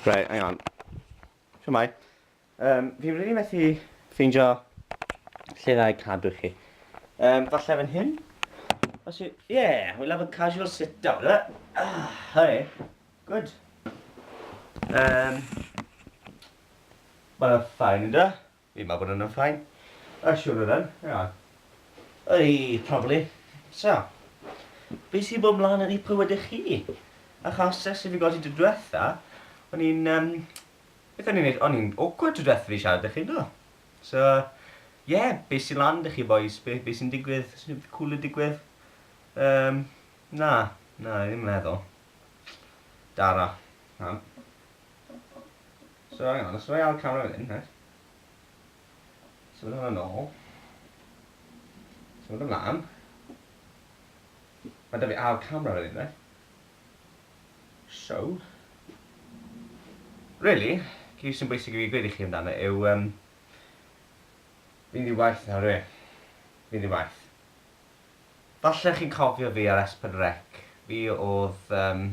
Right, hang on. Siamai. Um, fi wedi really methu ffeindio lle dda i cadw chi. Um, falle fan hyn? Os yw... Yeah, we'll have a casual sit down, right? Ah, hurry. Good. Um, Mae'n ffain, ynddo? Fi'n meddwl bod hwnna'n fine. Ar siwr o ran, ia. Yr i taflu. So, be sy'n bod mlan yn eich bywydau chi? Achos ers i fi godi tro dwetha, o'n i'n yym, beth o'n i'n neud? O'n i'n awkward tro dwetha fi siarad da chi, do? So, ie, be sy'n lan da chi bois? Be be sy'n digwydd? Oes unrhyw beth cwl yn digwydd? Yym, na, na, ddim yn meddwl. Dara. Iawn. So hang on, os dw i ar camera fan hyn, reit. Symud hwn yn ôl. Symud ymlaen. Mae 'da fi ar camera fan hyn, reit. So. Really, cyn sy'n bwysig i fi gweud i chi amdano yw um, fi'n ddi waith nawr yw e. Fi'n ddi waith. Falle chi'n cofio fi ar S4C. Fi oedd um,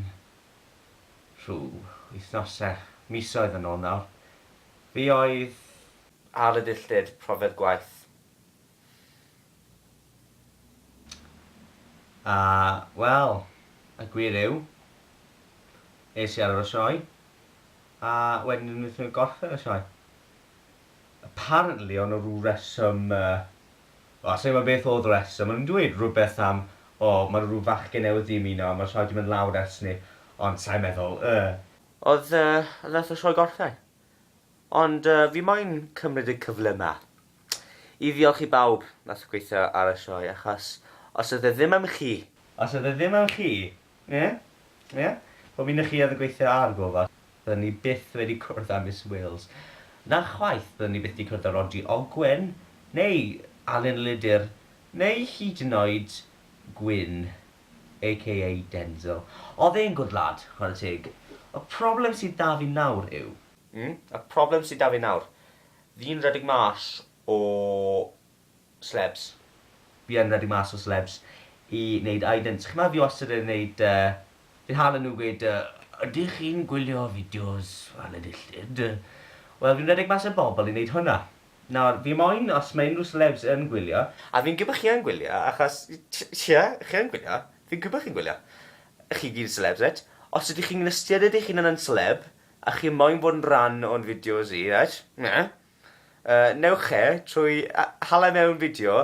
rhyw wythnosau, misoedd yn ôl nawr, fi oedd. Ar y dilltud, profiad gwaith. A, wel, y gwir yw, es i ar ôl y sioe, a wedyn o'n nhw ddim yn gorffen y sioe. Apparently, o'n nhw rhyw reswm O, sa i'n gwybod beth oedd y rheswm. O'n nhw'n dweud rhywbeth am, o, ma' 'na rhyw fachgen newydd 'di ymuno a ma' rhaid i mynd lawr ers 'ny. Ond sa i'n meddwl, yy. Oedd, yy, oedd e wrth y sioe gorffen. Ond, yy, fi moyn cymryd y cyfle 'ma i ddiolch i bawb wnaeth gweithio ar y sioe, achos os oedd e ddim am chi. Os oedd e ddim am chi, Ie? Ie? Wel mi 'na chi oedd yn gweithio ar gofal. Dda ni byth wedi cwrdd â Miss Wales. Na chwaith, dda ni byth 'di cwrdd â Rhodri Ogwen, neu Alun Lydr, neu hyd yn oed Gwyn, aka Denzil. Oedd e'n gwd lad, chwarae teg. Y problem sydd 'da fi nawr yw. Mm, y problem sydd 'da fi nawr. Fi'n redeg mas o Celebs. Fi yn redu mas o celebs i neud idents. Chi ma fi wastad yn neud yy fi'n hala nhw gweud yy ydych chi'n gwylio fideos fel y dillid? Wel fi'n redeg mas ar bobl i neud hwnna. Nawr fi moyn os ma unrhyw celebs yn gwylio. A fi'n gwbo chi yn gwylio achos ie chi yn gwylio. Fi'n gwbo chi'n gwylio. Chi gyd yn celebs reit. Os ydych chi'n ystyried eich hunan yn celeb a chi moyn bod yn rhan o'n fideos i reit? Newch e trwy hala mewn fideo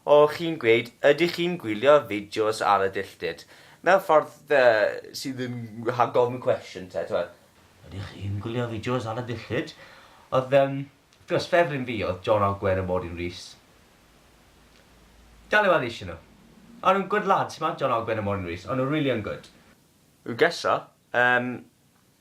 o chi'n gweud ydych chi'n gwylio fideos ar y dilltyd, mewn ffordd sydd yn rhag gofyn cwestiwn te, t'mod, ydych chi'n gwylio fideos ar y dilltyd? Oedd yym, wrth gwrs, ffefryn fi oedd John Ogwen a Mordyn Rees. Dal i weld eisiau nhw. O'n nhw'n gwd lads, t'mod, John Ogwen a Mordyn Rees, o'n nhw rili yn gwd. Ugessa, yym,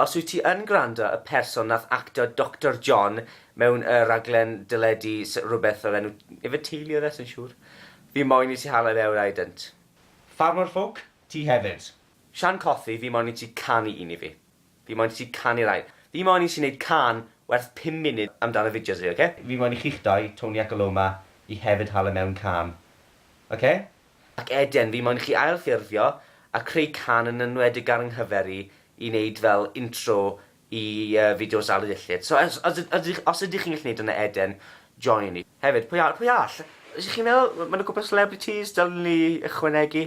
Os wyt ti yn gwrando, y person nath acto Doctor John mewn y raglen deledu sy- rwbeth o'r enw Ife Teulu oedd e, sai'n siŵr. Fi moyn i ti hala i lewr I don't. Ffarmwr ffwc, ti hefyd. Shan Cothi, fi moyn i ti canu un i fi. Fi moyn i ti canu rai. Fi moyn i ti neud cân werth pum munud amdan y fideos i fi, oce? Fi moyn i chi'ch dou, Tony ac Aloma, i hefyd hala mewn cân. Oce? Ac eden, fi moyn chi ailffurfio a creu can yn enwedig ar 'nghyfer i, i neud fel intro i yy fideos Aled Iechyd. So os os yd- ydych os ydych chi'n gallu neud hwnna eden, join i. Hefyd, pwy a- pwy all? Ydych chi'n meddwl ma' ma' 'na cwpwl o celebrities dylen ni ychwanegu?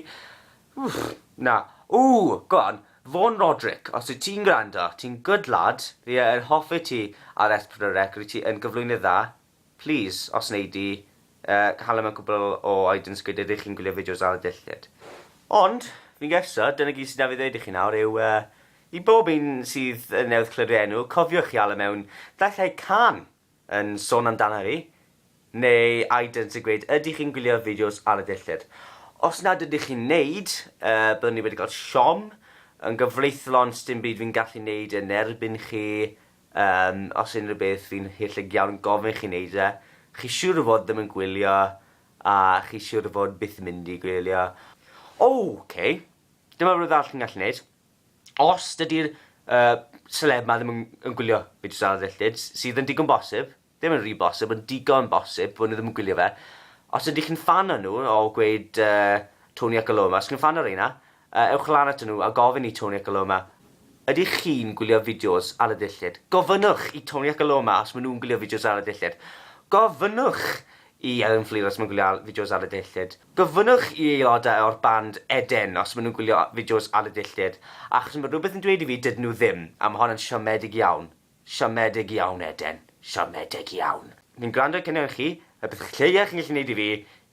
Wff, na. Ww! Go on, Vaughan Roderick, os wyt ti'n gwrando, ti'n good lad, fi yy yn hoffi ti ar S4C, rwyt ti yn gyflwynydd dda, Plis, os wnei di, cael am y cwpl o items gwydyr rŷch chi'n gwylio fideos ar y dillad. Ond, fi'n gesso, dyna gyd sy 'da fi ddweud i chi nawr yw, i bob un sydd newydd clywed fy enw, cofiwch chi ala mewn daillau cân yn sôn amdana fi, neu items yn gweud ydych chi'n gwylio fideos ar y dillad. Os nad ydych chi'n neud, byddwn i wedi cael siom yn gyfreithlon sdim byd fi'n gallu neud yn erbyn chi Yym, os unrhyw beth, fi'n hellug iawn yn gofyn chi neud e. Chi siwr o fod ddim yn gwylio, a chi siwr o fod byth yn mynd i gwylio. O! Oce. Dyma rwbeth arall chi'n gallu neud. Os dydi'r yy seleb 'ma ddim yn yn gwylio fideos ar y ddilltud, sydd yn digon bosib, Ddim yn rhy bosib ond digon bosib, wn i ddim yn gwylio fe. Os ydych chi'n ffan o nhw, o gweud uh, Tony ac Aloma, os chi'n ffan o reina, uh, ewch lan at nhw a gofyn i Tony ac Aloma, ydych chi'n gwylio fideos ar y ddillid? Gofynnwch i Tony ac Aloma os maen nhw'n gwylio fideos ar y ddillid. Gofynnwch i Elin Fflur os maen nhw'n gwylio fideos ar y ddillid. Gofynnwch i aelodau o'r band Eden os maen nhw'n gwylio fideos ar y ddillid, achos mae rhywbeth yn dweud i fi dydyn nhw ddim, a mae hon yn siomedig iawn. Siomedig iawn Eden, siomedig iawn. Ni'n gwrando i cynion chi, y peth lleia chi'n gallu neud i fi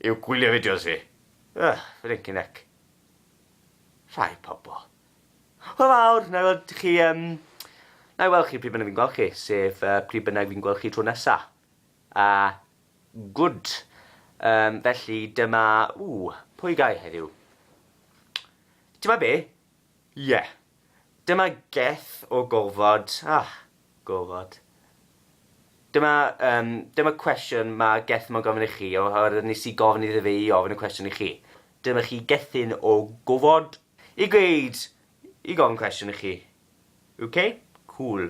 yw gwylio fideos fi. Ugh, flincin heck. Rhai pobl. Hwyl fawr, na i weld chi um, na i weld chi pryd bynnag fi'n gweld chi, sef uh, pryd bynnag fi'n gweld chi tro nesa. A uh, good. Um, felly dyma, ww, pwy gai heddiw? Dyma be, Ie. Dyma geth o gofod. Ach, gofod. Dyma, yym, dyma cwestiwn ma' geth mo'n gofyn i chi, oherwydd nes i gofyn iddo fe i ofyn y cwestiwn i chi. Dyma chi gethyn o gofod. I gweud, i gofyn cwestiwn i chi. Ok? Cŵl.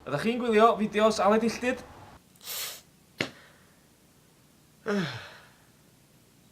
Ydach chi'n gwylio fideos Aled Illtud?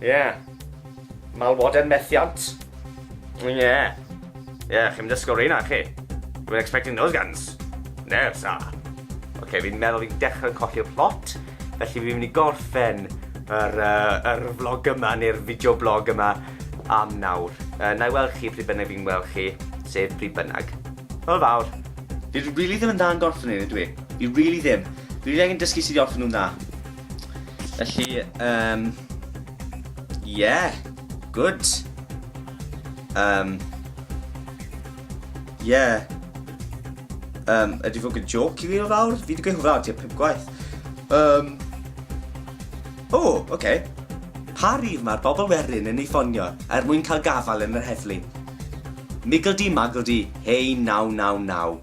Ie. Yeah. Malwoden methiant. Ie. Yeah. Ie, yeah, chi'n dysgu o'r reina, chi? You were expecting those guns. No, sa. Oce, okay, fi'n meddwl fi'n dechrau colli'r plot, felly fi'n mynd i gorffen yr, uh, yr vlog yma neu'r fideo blog yma am nawr. Uh, na i weld chi pryd bynnag fi'n weld chi, sef pryd bynnag. Hwyl fawr. Fi really ddim yn dda yn gorffen ni, dwi. Fi really ddim. Fi really angen dysgu sydd i orffen nhw'n dda. Felly, um, yeah, good. Um, yeah. Um, ydy fod yn joc i fi o fawr? Fi wedi gweud hwnna o tua pum gwaith. Um, o, oh, oce. Okay. Pa rif mae'r bobl werin yn ei ffonio er mwyn cael gafael yn yr heddlu? Migl di, magl di, hei 999.